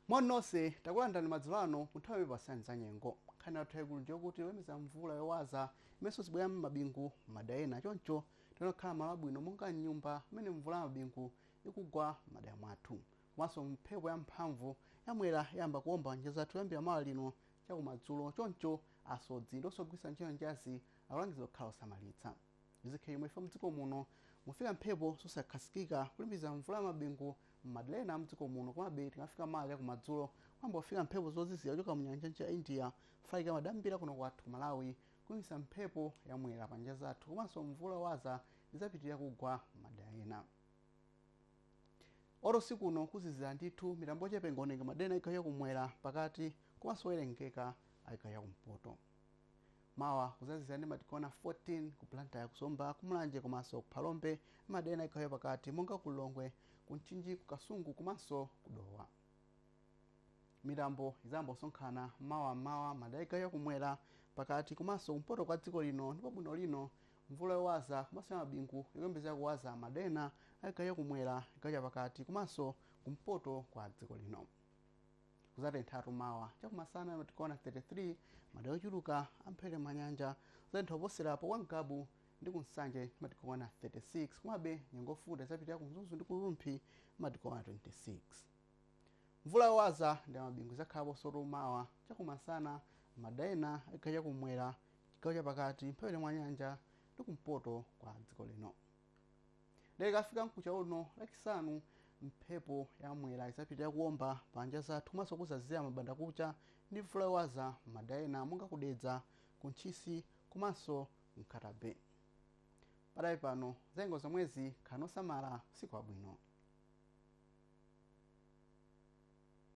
moni nonse takulandirani madzulo ano mu nthawi yokupatsirani za nyengo nkhani yathu yaikulu ndiyokuti tiyembekeze mvula yowaza imenenso izibwera ndi mabingu m'madera ena choncho tikuyenera kukhala malo abwino monga mnyumba mmene mvula ya mabingu ikugwa m'madera mwathu komanso mphepo ya mphamvu yamwera yayamba kuomba m'nyanja zathu kuyambira mawa lino chakumadzulo choncho asodzi ndi onse ogwiritsa ntchito nyanjazi Akulangizidwa kukhala osamalitsa. Izi zikhala chomwechi chifukwa mdziko muno mufika mphepo zosakhazikika kulimbikitsa mvula ya mabingu m'madera ena a mdziko muno komabe tikamafika mawa chakumadzulo kuyamba kufika mphepo zozizira kuchoka mu nyanja ya India kufalikira madera ambiri kuno kwathu ku Malawi kulimbikitsa mphepo ya mwera pa nyanja zathu komanso mvula yowaza idzapitirira kugwa m'madera ena. Lero usiku uno kuzizira ndithu mitambo yochepa ingaoneke madera ena a chigawo chakumwera, pakati komanso owerengeka a chigawo chakumpoto. Mawa kudzazizira ndi matigona 14 ku Blantyre, ku Zomba, ku Mulanje komanso ku Phalombe m'madera ena a chigawo chapakati monga ku Lilongwe, ku Mchinji, ku Kasungu komanso ku Dowa. Mitambo idzayamba kusonkhana mawa m'mawa m'madera a chigawo cha kumwera, pakati komanso kumpoto kwa dziko lino ndipo bwino lino mvula yowaza komanso ya mabingu ikuyembekezeka kuwaza m'madera ena a chigawo cha kumwera, chigawo chapakati komanso kumpoto kwa dziko lino. kuzatenthatu mawa chakumasana tikaona 33 madera ochuluka a mphepete mwa nyanja kuzatentha kuposera apo kwa ngabu ndi ku nsanje matikaona 36 komabe nyengo yofunda idzapitirira ku mzuzu ndi ku rumphi matikaona 26 mvula yowaza ndi mabingu izakhalaponsotu mawa chakumasana madera ena a chigawo chakumwera chigawo chapakati mphepete mwa nyanja ndi kumpoto kwa dziko lino Ndiye tikafika mkucha uno lachisanu mphepo ya mwera idzapitirira kuomba pa nyanja zathu komanso kuzazizira m'mbandakucha ndi mvula yowaza m'madera ena monga ku Dedza, ku Ntchisi komanso Nkhata Bay. Pakadali pano za nyengo zomwezi khalani osamala usiku wabwino.